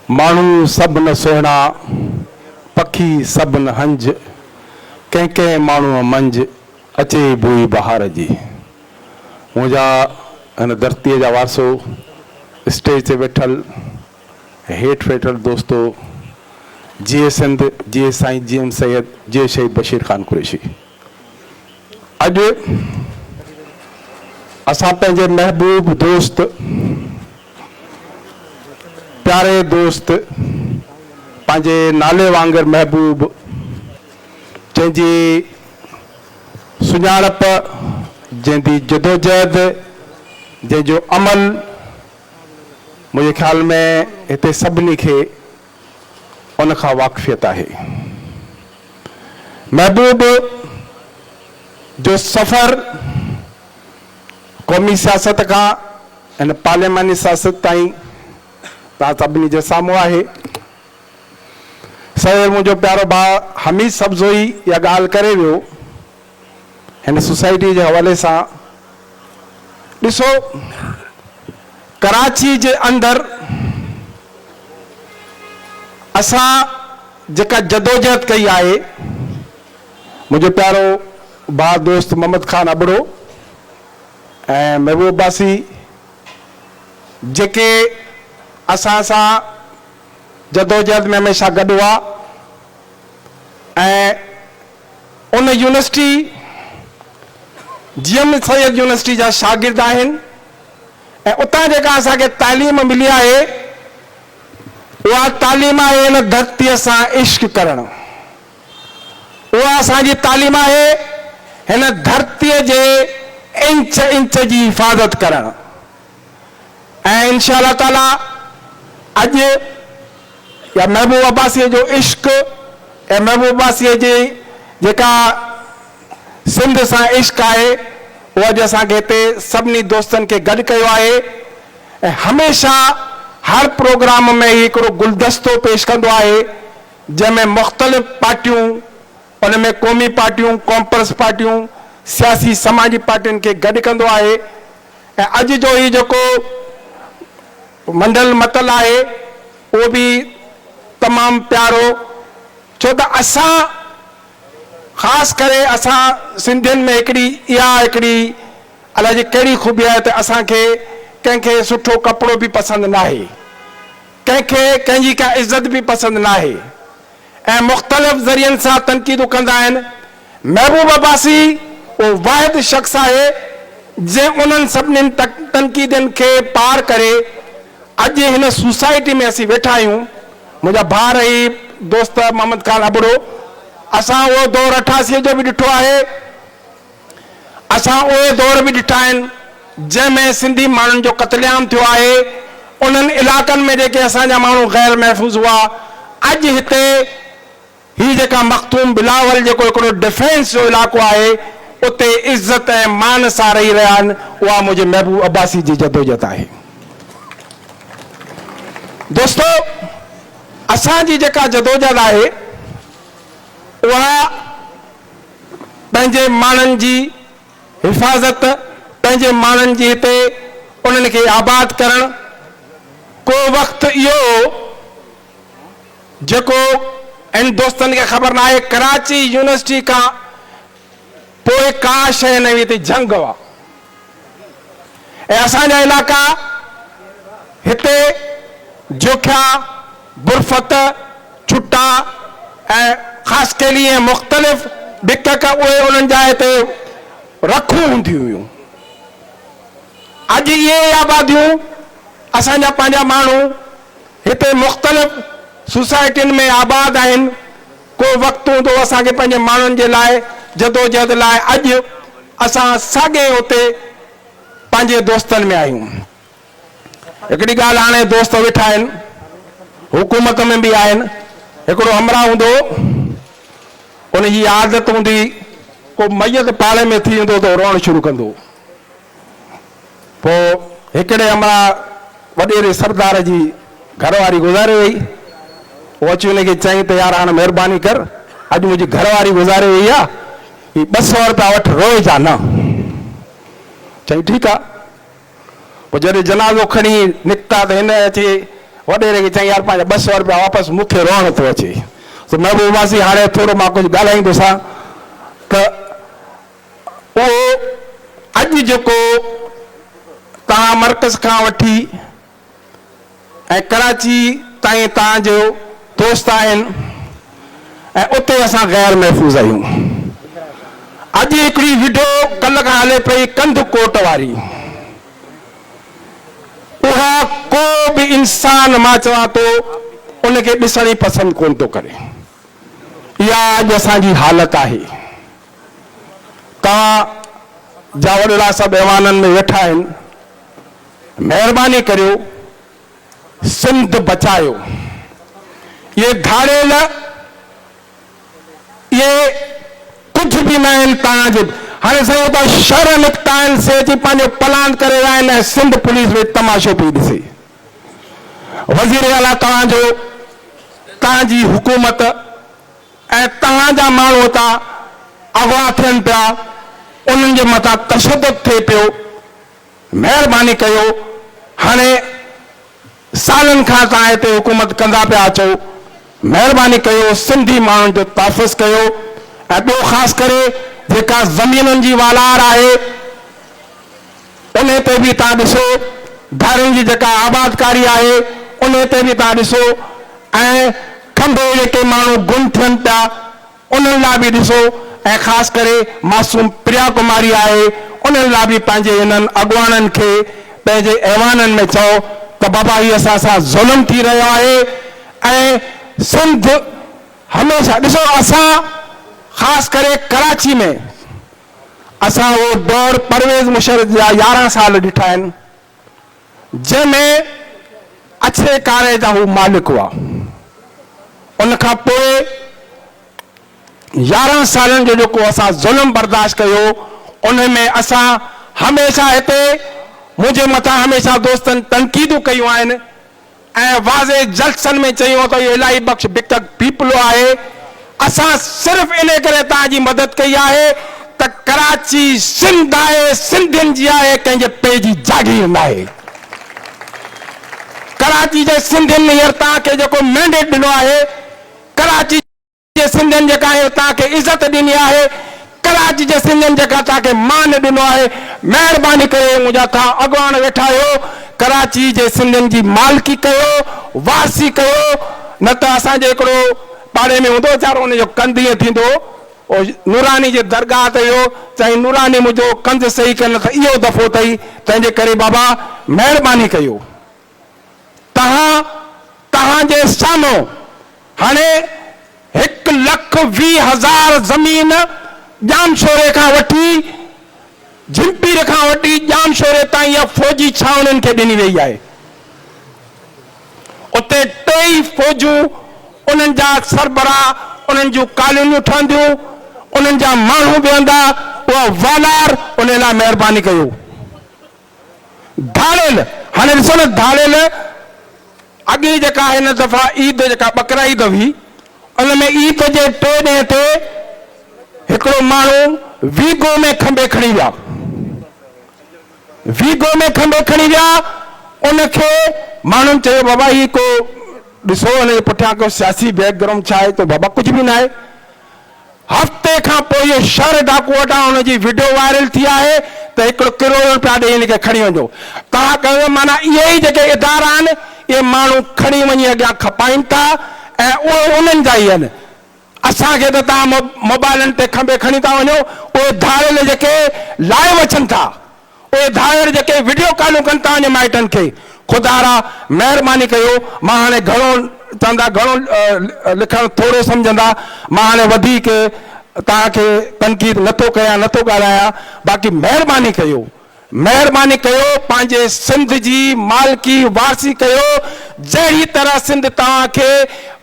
ماڻهو سڀ نه سهڻا، پکي سڀ نه هنج، ڪنهن ڪنهن ماڻهوء منجھ، اچي بوئي بهار جي. منهنجا هن ڌرتيء جا وارثو، اسٽيج تي ويٺل ۽ هيٺ ويٺل دوستو، جيئي سنڌ، جيئي سائين جي ايم سيد، جيئي شهيد بشير خان قريشي. اڄ اسان پنهنجي محبوب دوست. پياري دوست پنهنجي نالي وانگر محبوب جنهن جي سڃاڻپ جنهن جي جدوجهد جنهن جو عمل منهنجي خيال ۾ هتي سڀني کي ان کان واقفيت آهي محبوب جو سفر قومي سياست کان هن پارلياماني سياست تائين تان سڀني جي سامهون آهي. سوير منهنجو پيارو ڀاء حميد سبزوئي اها ڳالهه ڪري ويو هن سوسائٽي جي حوالي سان. ڏسو ڪراچي جي اندر اسان جيڪا جدوجهد ڪئي آهي منهنجو پيارو ڀاء دوست محمد خان ابڙو ۽ محبوب عباسي جيڪي اسان سان جدوجهد ۾ هميشه گڏ هئا ۽ ان university G M Syed university جا شاگرد آهن ۽ اتان جيڪا اسان کي تعليم ملي آهي اها تعليم آهي ان ڌرتيء سان عشق ڪرڻ. اها اسان جي تعليم آهي، هن ڌرتيء جي انچ انچ جي حفاظت ڪرڻ ۽ انشاء الله تعاليٰ اڄ يا محبوب عباسيء جو عشق يا محبوب عباسيء جي جيڪا سنڌ سان عشق آهي اهو اڄ اسان کي هتي سڀني دوستن کي گڏ ڪيو آهي ۽ هميشه هر پروگرام ۾ هي هڪڙو گلدستو پيش ڪندو آهي جنهن ۾ مختلف پارٽيون ان ۾ قومي پارٽيون، ڪامپرس پارٽيون، سياسي سماجي پارٽين کي گڏ ڪندو آهي ۽ اڄ جو هي جيڪو منڊل متل آهي اهو به تمام پيارو ڇو ته اسان خاص ڪري اسان سنڌين ۾ هڪڙي اها هڪڙي الائجي ڪهڙي خوبي آهي ته اسان کي ڪنهن کي سٺو ڪپڙو به پسند ناهي. ڪنهن کي ڪنهن جي ڪا عزت به پسند ناهي ۽ مختلف ذريعن سان تنقيدون ڪندا آهن، محبوب عباسي اهو واحد شخص آهي جنهن انهن سڀني تنقيدين کي پار ڪري اڄ هن سوسائٽي ۾ اسين ويٺا آهيون، منهنجا ڀاء رهي دوست محمد خان ابڙو اسان اهو دور اٺاسي جو به ڏٺو آهي. اسان اهي دور به ڏٺا آهن جنهن ۾ سنڌي ماڻهن جو قتل عام ٿيو آهي. انهن علائقن ۾ جيڪي اسان جا ماڻهو غير محفوظ هئا اڄ هتي هي جيڪا مخدوم بلاول جيڪو هڪڙو ڊفينس جو علائقو آهي اتي عزت ۽ مان سان رهي رهيا آهن اها منهنجي محبوب عباسي جي جدوجهد آهي. دوستو اسان جي جيڪا جدوجهد آهي اها پنهنجي ماڻهن جي حفاظت، پنهنجي ماڻهن جي هتي انهن کي آباد ڪرڻ، ڪو وقت اهو هو جيڪو هن دوستن کي خبر ناهي ڪراچي يونيورسٽي کان پوء ڪا شيء نه هئي هتي جهنگ هئا. ۽ اسان جا علائقا هتي جوکيا، برفت، ڇٽا ۽ خاصخيلي ۽ مختلف ڏڪ ڪ اهي انهن جاء تي رکون هونديون هيون. اڄ اهي ئي آباديون اسان جا پنهنجا ماڻهو هتي مختلف سوسائٽين ۾ آباد آهن. ڪو وقت هوندو اسان کي پنهنجي ماڻهن جي لاء جدوجهد لاء اڄ اسان ساڳئي اتي پنهنجي دوستن ۾ آهيون هڪڙي ڳالهه هاڻي دوست ويٺا آهن حڪومت ۾ به آهن هڪڙو همراهه هوندو ان جي عادت هوندي ڪو ميت پاڙي ۾ ٿي ويندو ته روئڻ شروع ڪندو پوء هڪڙي امڙا وڏيري سردار جي گهر واري گذاري وئي. پوء اچي ان کي چيائين ته يار هاڻ مهرباني ڪر، اڄ منهنجي گهر واري گذاري وئي آ، هي ٻه سؤ رپيا وٺ، روئي جا نه. چيائين ٺيڪ آ. پوء جڏهن جنازو کڻي نڪتا ته هن اچي وڏيري کي چيائين يار پنهنجا ٻه سؤ رپيا واپس، مون کي روئڻ ٿو اچي. محبوبا سين هاڻي ٿورو مان ڪجهه ڳالهائيندوسان ته اهو اڄ جيڪو توهان مرڪز کان وٺي ۽ ڪراچي تائين توهان جو دوست آهن ۽ اتي اسان غير محفوظ آهيون. اڄ هڪڙي وڊيو ڪل کان هلي پئي ڪنڌ ڪوٽ واري اها ڪو به انسان مان چوان ٿو ان کي ڏسڻ ئي پسند ڪونه ٿو ڪري. اها اڄ اسان جي حالت آهي. توهان جا وڏڙا سڀ ايوانن ۾ ويٺا آهن مهرباني ڪريو سنڌ بچايو اهي ڌاڙيل اهي ڪجهه به نه آهن توهان جي هاڻي سائين هو ته شهر نڪتا آهن سي اچي پنهنجو پلاند ڪري ويا آهن ۽ سنڌ پوليس ويٺ تماشو پي ڏسي وزير اعليٰ توهان جو توهان جي حڪومت ۽ توهان جا ماڻهو هتان اغوا ٿين پيا، انهن جي مٿان تشدد ٿئي پيو، مهرباني ڪيو هاڻي سالن کان توهان هتي حڪومت ڪندا پيا اچو، مهرباني ڪيو سنڌي ماڻهن جو تحفظ ڪيو ۽ ٻيو خاص ڪري جيڪا زمينن جي والار آهي، انهي تي به توهان ڏسو ڌارين جي جيڪا آبادڪاري آهي انهي تي به توهان ڏسو ۽ کنڀي جيڪي ماڻهو گم ٿين پيا انهن لاء به ڏسو ۽ خاص ڪري معصوم پريا ڪماري آهي انهن لاء به پنهنجي انهن اڳواڻن کي پنهنجي ايوانن ۾ چئو ته بابا هي اسان سان ظلم ٿي رهيو آهي ۽ سنڌ هميشه ڏسو اسان خاص ڪري ڪراچي ۾ اسان اهو دور پرويز مشرف جا يارهن سال ڏٺا آهن، جنهن ۾ اڇي ڪاري جا هو مالڪ هئا. ان کان پوء يارهن سالن جو جيڪو اسان ظلم برداشت ڪيو، ان ۾ اسان هميشه هتي منهنجي مٿان هميشه دوستن تنقيدون ڪيون آهن ۽ واضح جلسن ۾ چيو ته اهو الاهي بخش بکڪ پيپلو آهي، اسان صرف ان ڪري توهان جي مدد ڪئي آهي ته ڪراچي سنڌ آهي، سنڌين جي آهي، ڪنهن جي پي جي جاگير ناهي. ڪراچي جي سنڌين هينئر توهان کي جيڪو مينڊيٽ ڏنو آهي، ڪراچي. جي سنڌين جيڪا اهي تان کي عزت ڏني آهي ڪراچ جي سنڌين جيڪا تان کي مان ڏنو آهي مهرباني ڪري اهي منهنجا ٿا اڳواڻ ويٺا آهيو ڪراچي جي سنڌين جي مالڪي ڪيو وارثي ڪيو نه ته اسان جي هڪڙو پاڙي ۾ هوندو ويچارو ان جو ڪنڌ ائين ٿيندو هو نوراني جي درگاهه تي ويو چيائين نوراني منهنجو ڪنڌ صحيح ڪر نه ته اهو دفعو اٿئي تنهنجي ڪري بابا مهرباني ڪيو تهان توهان جي سامهون هاڻي هڪ لک ويهه هزار زمين ڄامشوري کان وٺي جهمپير کان وٺي ڄامشوري تائين يا فوجي ڇانوڻين کي ڏني ويئي آهي. اتي ٽي ئي فوجون انهن جا سربراهه انهن جون ڪالونيون ٺهنديون، انهن جا ماڻهو ويهندا، اها والار انهي لاء مهرباني ڪيو. ڌاڙيل، هاڻي ڏسو نه ڌاڙيل اڳي جيڪا هن دفعا عيد جيڪا ٻڪرائيد هئي ان ۾ عيد جي ٽئين ڏينهن تي هڪڙو ماڻهو ويگو ۾ کنڀي کڻي ويا ويگو ۾ کنڀي کڻي ويا ان کي ماڻهن چيو بابا هي ڪو ڏسو ان جي پٺيان ڪو سياسي بيڪ گرائونڊ ڇا آهي تو بابا ڪجهه به نه آهي هفتي کان پوء شھر ڊاڪو اڏا ان جي وڊيو وائرل ٿي آهي ته هڪڙو ڪروڙ رپيا ڏئي هن کي کڻي وڃو تها ڪيو معنيٰ اهي ئي جيڪي ادارا آهن اهي ماڻهو کڻي وڃي اڳيان کپائين ٿا ۽ اهي انهن جا ئي آهن اسان کي ته تها موبائلن تي کنڀي کڻي ٿا وڃو اهي ڌاڙيل جيڪي لائيو اچن ٿا اهي ڌائر جيڪي وڊيو ڪالون ڪن ٿا انهن مائٽن کي خدارا مهرباني ڪيو مان هاڻي گهڻو چوندا گهڻو لکڻ ٿورو سمجهندا مان هاڻي وڌيڪ توهان کي تنقيد نه ٿو ڪيان نه ٿو ڳالهايان باقي مهرباني ڪيو مهرباني ڪيو پنهنجي سنڌ جي مالڪي وارثي ڪيو جهڙي طرح سنڌ توهان کي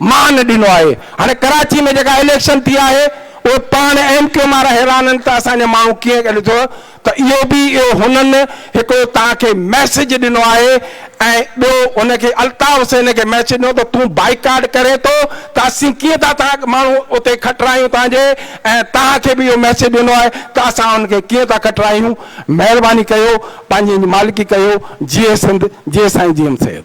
مان ڏنو آهي هاڻي ڪراچي ۾ جيڪا اليڪشن ٿي آهي اهي پاڻ ايم ڪيوم وارا حيران آهن ته اسان جا ماڻهو ڪيئن ڏٺو ته اهو به اهو هنن هڪڙو توهان کي ميسج ڏنو آهي ۽ ٻيو هن کي الطاف حسين کي ميسج ڏنو ته تون بائيڪاٽ ڪرين ٿو ته اسين ڪيئن ٿا توهان ماڻهو اتي کٽرايون توهان جي ۽ توهان کي به اهو ميسج ڏنو آهي ته اسان هن کي ڪيئن ٿا کٽرايون مهرباني ڪيو پنهنجي مالڪي ڪيو جيئي سنڌ جيئي سائين جي ايم سيد.